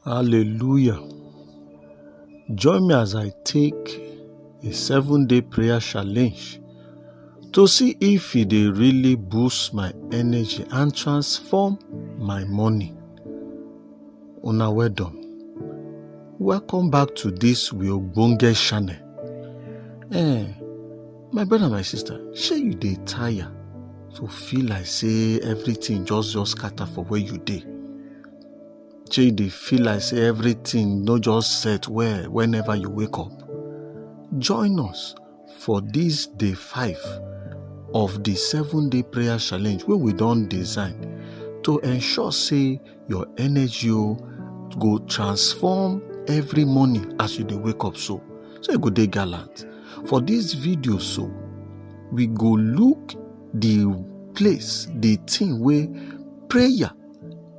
Hallelujah. Join me as I take a seven day prayer challenge to see if it dey really boost my energy and transform my morning. Una well done. Welcome back to this We Ogbonge channel. Eh, my brother, my sister, shey you dey tire to feel like say everything just just scatter for where you dey? shey you dey feel like say everything no just set well whenever you wake up join us for this day five of the seven day prayer challenge wey we don design to ensure say your energy o go transform every morning as you dey wake up so so you go dey gallant for this video so we go look the place the thing wey prayer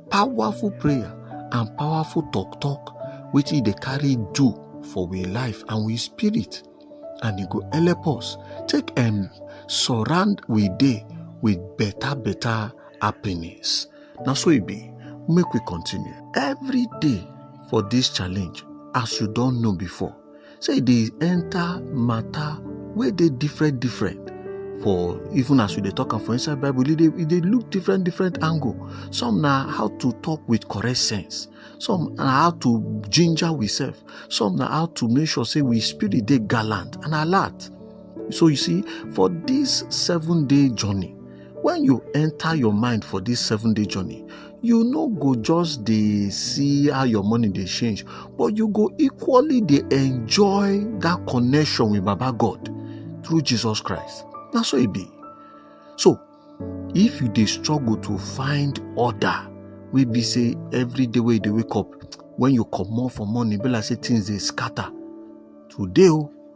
powerful prayer and powerful talk talk wetin dey carry do for we life and we spirit and e go help us take um, surround we day with better better happiness Now so it e be make we continue every day for this challenge as you don't know before say e dey enter matter wey dey different different for even as we dey talk am for inside bible e dey e dey look different different angle some na how to talk with correct sense some na how to ginger we sef some na how to make sure say we spirit dey gallant and alert so you see for this seven day journey when you enter your mind for this seven day journey you no go just dey see how your money dey change but you go equally dey enjoy that connection with baba god through jesus christ na so e be so if you dey struggle to find order wey be say every day wey you dey wake up when you comot for morning e be like say things dey scatter today o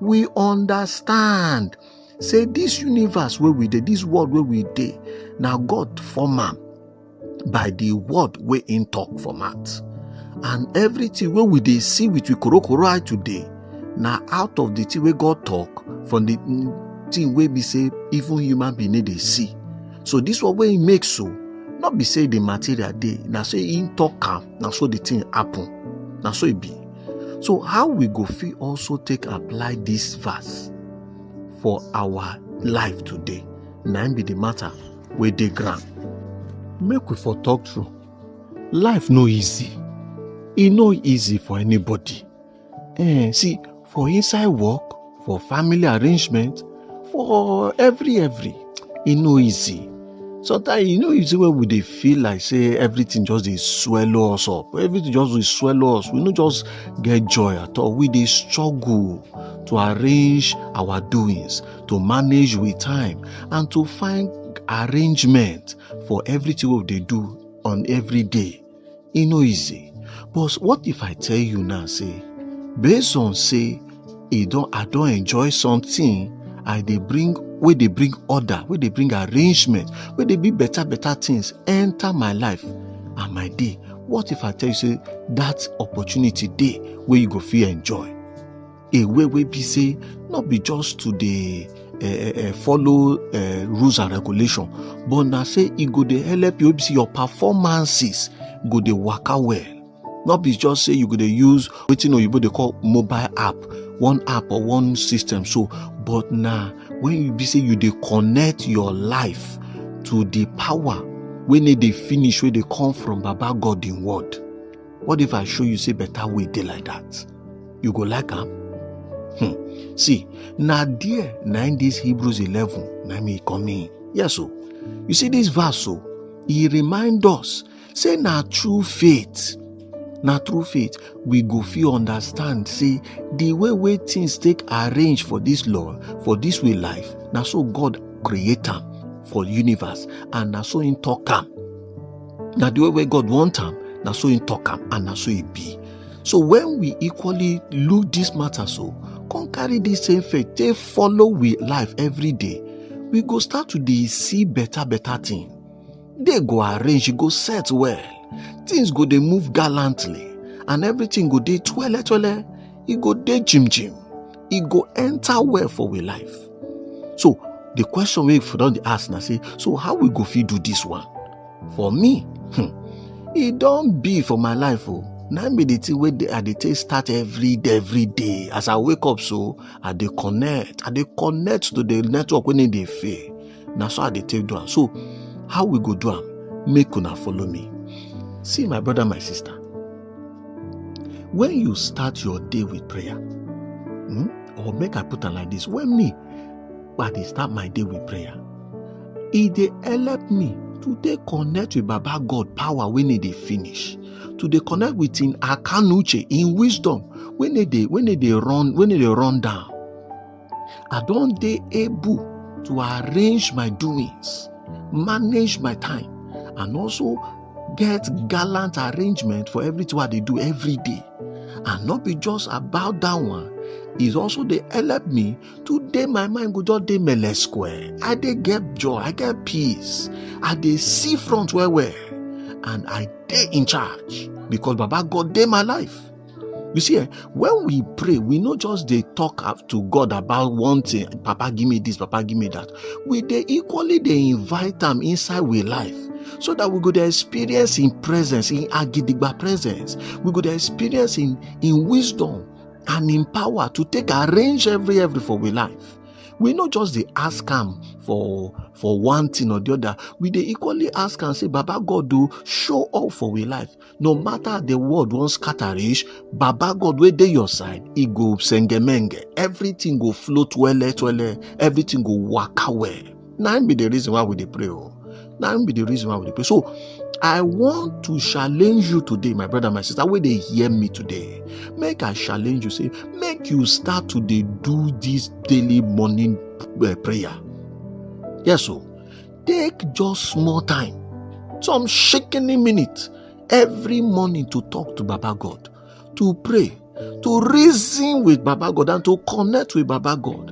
we understand say this universe where we dey this world where we dey now god form am by the word we in talk for mouth and everything where we they see with we korokoro eye today now out of the thing we god talk from the thing where we say even human being they see so this what we make so not be say the material day now say in talk am now so the thing happen now so it e be so how we go fit also take apply this verse for our life today na im be the matter wey dey ground make we for talk true life no easy e no easy for anybody eh see for inside work for family arrangement for every every e no easy sometimes e no easy when we dey feel like say everything just dey swallow us up everything just dey swallow us we no just get joy at all we dey struggle to arrange our doings to manage with time and to find arrangement for everything wey we dey do on every day e no easy but what if i tell you now say based on say e don i don enjoy something i dey bring wey dey bring order wey dey bring arrangement wey dey be better better things enter my life and my day what if i tell you say that opportunity dey wey you go fit enjoy a way wey be say no be just to dey uh, uh, follow uh, rules and regulation but na say e go dey help you see your performances go dey waka well no be just say you go dey use wetin oyibo dey call mobile app one app or one system so but na when you be say you dey connect your life to the power wey no dey finish wey dey come from baba god in word What if I show you say better way dey like that? You go like am? Hmm. See, na there na in this Hebrews 11 na me come in. Yes o. You see this verse so, e remind us say na true faith na through faith we go fit understand say the way wey things take arrange for this law for this way life na so god create am for universe and na so him talk am na the way wey god want am na so he talk am and na so he be so when we equally look this matter so come carry this same faith take follow we life every day we go start to dey see better better thing dey go arrange e go set well things go dey move gallantly and everything go dey twele twele e go dey jim jim e go enter well for we life so the question wey for don dey ask na say so how we go fit do this one for me hmm, e don be for my life o na im be the thing wey dey- i dey take start every day every day as i wake up so i dey connect i dey connect to the network wey no dey fail na so i dey take do am so how we go do am make una follow me see my brother my sister when you start your day with prayer hmm, or make i put am like this when me i dey start my day with prayer e dey help me to dey connect with baba god power wey no dey finish to dey connect with him akanuche him wisdom wey no dey wey no dey run wey no dey run down i don dey able to arrange my doings manage my time and also get gallant arrangement for everything i dey do every day and not be just about that one is also dey help me today my mind go just dey mele square i dey get joy i get peace i dey see front well well and i dey in charge because baba god dey my life you see eh, when we pray we no just dey talk to god about one thing papa give me this papa give me that we dey equally dey invite am inside we life so that we go dey experience in presence in agidigba presence we go dey experience in in wisdom and im power to take arrange every every for we life we no just dey ask am for for one thing or the other we dey equally ask am say baba god do show up for we life no matter the world wan scatter reach baba god wey dey your side e go sengemenge everything go float wele twele everything go waka well na im be the reason why we dey pray o na im be the reason why we dey pray so i want to challenge you today my brother my sister wey dey hear me today make i challenge you say make you start to dey do this daily morning uh, prayer yes o take just small time some shikini minute every morning to talk to baba god to pray, to reason with Baba God, and to connect with Baba God.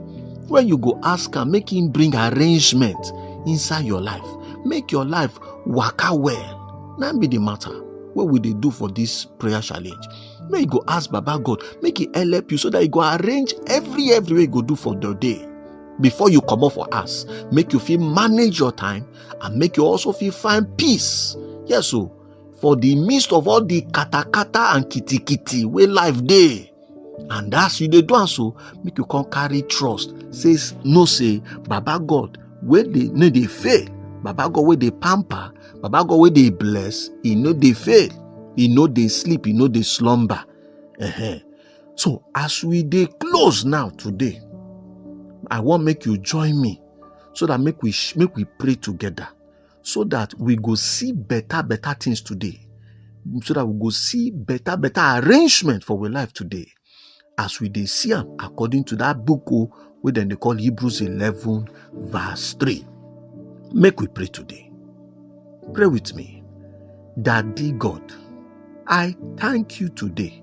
When you go ask him, make him bring arrangement inside your life. Make your life work out well. That be the matter. What will they do for this prayer challenge? May you go ask Baba God, make it help you so that you go arrange every every way you go do for the day before you come up for us. Make you feel manage your time and make you also feel find peace. Yes, so oh. for the midst of all the katakata and kitikiti wey life dey and as you dey do am so make you come carry trust say no say baba god wey dey no dey fail baba god wey dey pamper baba god wey dey bless e no dey fail e no dey sleep e no dey slumber uh-huh. so as we dey close now today i wan make you join me so that make we make we pray together so that we go see better better things today so that we go see better better arrangement for our life today as we dey see am according to that book o oh, wey dem dey call hebrews eleven verse three make we pray today pray with me daddy god i thank you today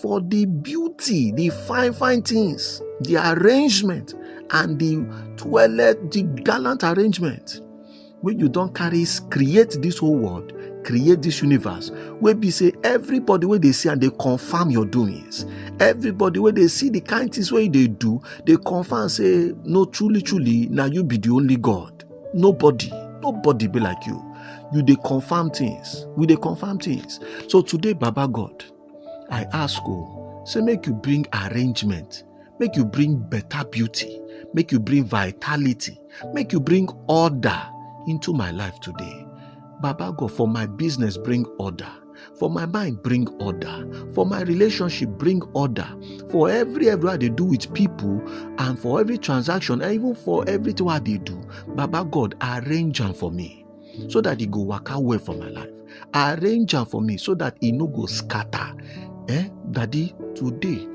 for the beauty, the fine, fine things, the arrangement, and the toilet, the gallant arrangement. When you don't carry, create this whole world, create this universe. Where be say everybody where they see and they confirm your doings. Everybody where they see the kind things where they do, they confirm say, no, truly, truly, now you be the only God. Nobody, nobody be like you. You they confirm things. We they confirm things. So today, Baba God, I ask o, oh, say make you bring arrangement, make you bring better beauty, make you bring vitality, make you bring order into my life today. Baba God, for my business, bring order. For my mind, bring order. For my relationship, bring order. For every everywhere they do with people, and for every transaction, and even for everything what they do, Baba God, arrange them for me. so that e go waka well for my life arrange am for me so that e no go scatter eh daddy today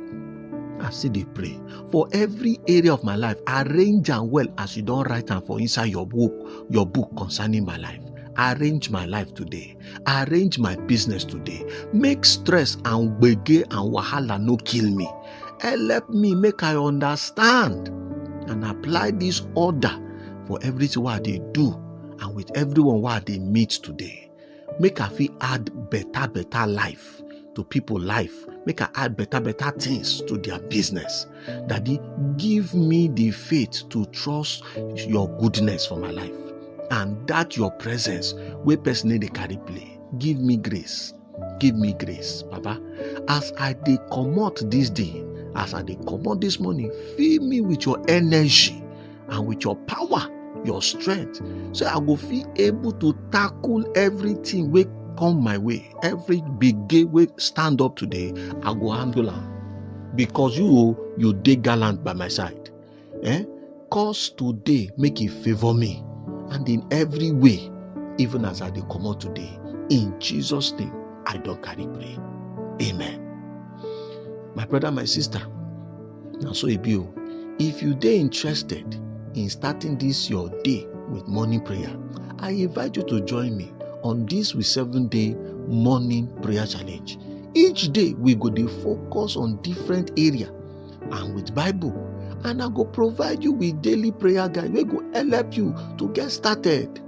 i still dey pray for every area of my life arrange am well as you don write am for inside your book your book concerning my life arrange my life today arrange my business today make stress and gbege and wahala no kill me Help me make I understand and apply this order for everything wey I dey do and with everyone wey I dey meet today. Make I fit add better better life to people life. Make I add better better things to their business. Daddy, give me the faith to trust your goodness for my life and that your presence wey person no dey carry play. Give me grace. give me grace papa as i dey comot this day as i dey comot this morning fill me with your energy and with your power your strength so i go feel able to tackle everything wey come my way every big gate wey stand up today i go handle am because you you dey gallant by my side Eh? Cause today make e favor me and in every way, even as I dey comot today. In Jesus' name, I don carry pray. Amen. My brother, my sister, na so e be o. If you dey interested in starting this your day with morning prayer, I invite you to join me on this we seven day morning prayer challenge. Each day we go dey focus on different area and with bible and i go provide you with daily prayer guide wey go help you to get started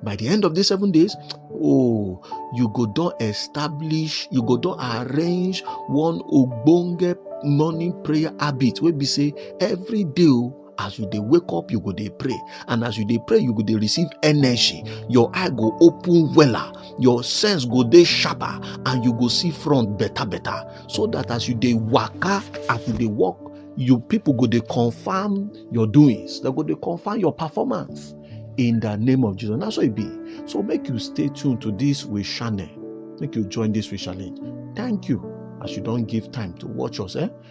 by the end of these seven days oh you go don establish you go don arrange one ogbonge morning prayer habit wey be say every day o oh, as you dey wake up you go dey pray and as you dey pray you go dey receive energy your eye go open wella your sense go dey sharper and you go see front better better so that as you dey waka as you dey walk you people go dey confirm your doings they go dey confirm your performance in the name of jesus na so e be so make you stay tuned to this we channel make you join this we challenge thank you as you don give time to watch us eh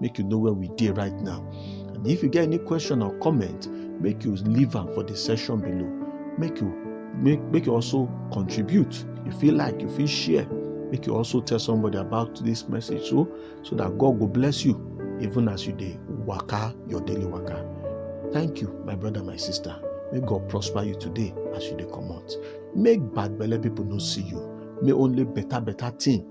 make you know where we dey right now and if you get any question or comment make you leave am for the section below make you make make you also contribute you feel like you feel share make you also tell somebody about this message so so that god will bless you even as you dey waka your daily waka thank you my brother my sister may god prosper you today as you dey comot make bad belle people no see you may only better better thing